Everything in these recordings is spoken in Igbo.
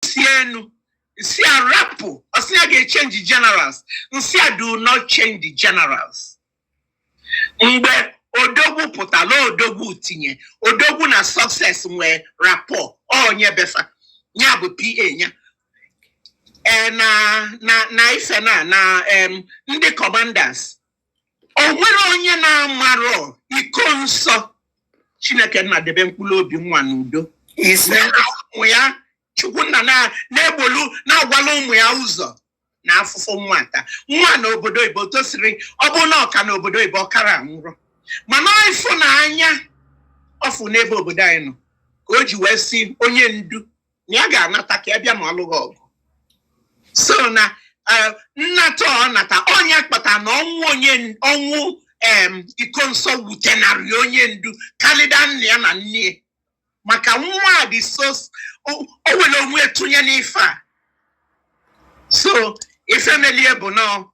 si enu m sị ya rapụ ọ sị ya ga-echenji generals m sị ya do not change the generals mgbe odogwu pụtalụ odogwu tinye odogwu na success nwee rapport onye be fa ya bụ PA ya ee na na na ife na na em, ndị commanders o nwere onye na-amarọ Ikonso chineke nna debe mkpụrụ obi nwa n'udo ise na ụmụ ya chukwu nna na- na-egbolu na-agwala ụmụ ya ụzọ na afụfụ nwata nwa nọ obodo oyibo tosiri ọ bụ na ọ ka nọ obodo oyibo ọ kara anwụrọ mana ịfụnanya ọ fụ n'ebe obodo anyị nọ ka o ji wee sị onye ndu na ya ga-anata ka ya bịa ma ọ lụghị ọgụ so na eh, nnata ọ nata ọ nya kpata na ọnwụ onye ọnwụ em, Ikonso wutenarị onye ndu kalịda nna ya na nne ya. maka nwa a dị so o o welu onwe ya tụnye n'ife a so ife melụ ya bụ na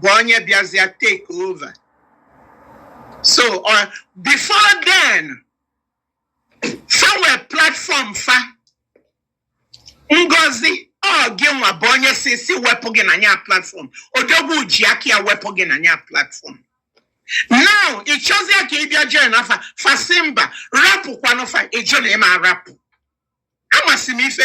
bụ onye bịazịa take over so uh, before then fa nwere platform fa ngozi ọ gị nwa bụ onye sị sị wepụ gị na nya platform odogwu ji aka ya wepụ gị na nya platform now ị chọzịa ka ị bịa joinịa fa fa sị mba rapụkwanụ fa ị jụ na ị ma arapụ amasị m ife